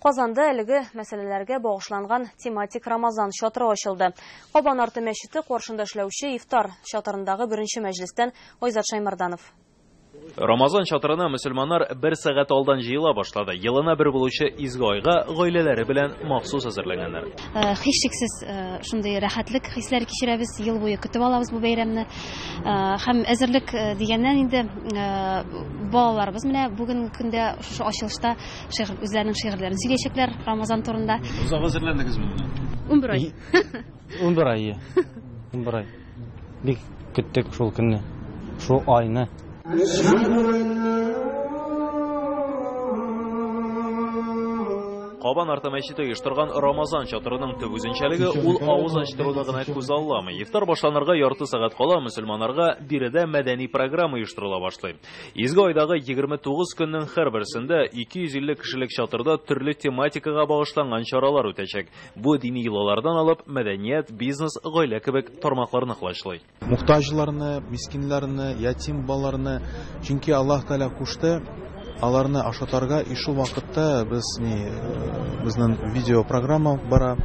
Казанда әлеге мәсьәләләргә багышланган тематик Рамазан чатыры ачылды. Кабан арты мәчете каршында эшләүче ифтар чатырындагы беренче мәҗлестән Айзат Шаймарданов. Рамазан чатырына мөселманнар бер сәгать алдан җыела башлады. Елына бер булучы изге айга гаиләләре белән махсус әзерләнгәннәр. Э, һичшиксез, э, шундый рәхәтлек хисләре кичерәбез, ел буе көтеп алабыз бу бәйрәмне. Э, һәм әзерлек дигәннән инде балаларыбыз менә бүгенге көндә шушы ачылышта Шигырь, үзләренең шигырьләрен сөйләячәкләр Рамазан турында. Озак әзерләндегезме менә? Унбер ай. Унбер ай, ие. Унбер ай. Бик көттек шул көнне, шул айны. Кабан арты мәчете оештырган Рамазан чатырының төп үзенчәлеге ул авыз ачтыруны гына күз алламый. Ифтар башланырга ярты сәгать кала мөселманнарга биредә мәдәни программа оештырыла башлый. Изге айдагы 29 көннең һәрберсендә 250 кешелек чатырда төрле тематикага багышланган чаралар үтәчәк. Бу дини йолалардан алып, мәдәният, бизнес, гаилә кебек тармакларны колачлый. Мохтаҗларны, мискиннәрне, ятим балаларны, чөнки Аллаһ Тәгалә кушты аларны ашатарга, и шул вакытта без ни безнең видеопрограмма бара,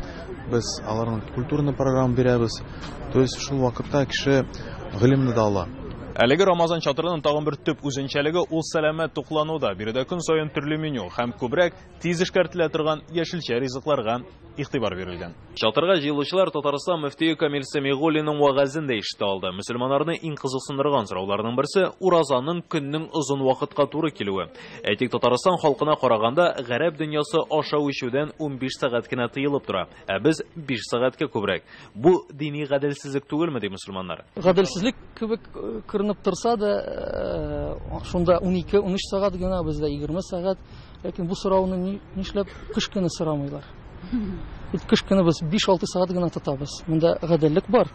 без аларның культурный программа бирәбез, то есть шул вакытта кеше гыйлемне дә ала. Әлеге Рамазан чатырының тагын бер төп үзенчәлеге ул сәламәт туклануда. Биредә көн саен төрле меню һәм күбрәк тиз эшкәртелә торган яшелчә ризыкларга игътибар бирелгән. Чатырга җыелучылар Татарстан мөфтие Камил Сәмигуллинның вәгазен дә ишетә алды. Мөселманнарны иң кызыксындырган сорауларның берсе, уразаның көннең озын вакытка туры килүе. Әйтик, Татарстан халкына караганда, гарәп дөньясы ашау-эчүдән унбиш сәгать кенә тыелып тора. Ә без биш сәгатькә күбрәк. Бу дини гаделсезлек түгелме, ди мөселманнар. Гаделсезлек кебек э, күренеп торса да, э, шунда 12-13 сәгать генә, бездә 20 сәгать. Ләкин бу сорауны нишләп кыш көне сорамыйлар? Бит кыш көне без 5-6 сәгать генә тотабыз. Монда гаделлек бар.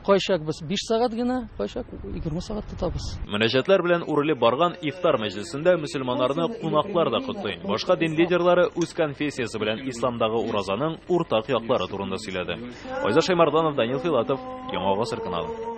Кайчак без биш сәгать генә, кайчак егерме сәгать тотабыз. Мөнәҗәтләр белән үрелеп барган ифтар мәҗлесендә мөселманнарны кунаклар да котлый. Башка дин лидерлары үз конфессиясе белән исламдагы уразаның уртак яклары турында сөйләде. Айза Шаймарданов, Данил Филатов, Яңа гасыр каналы.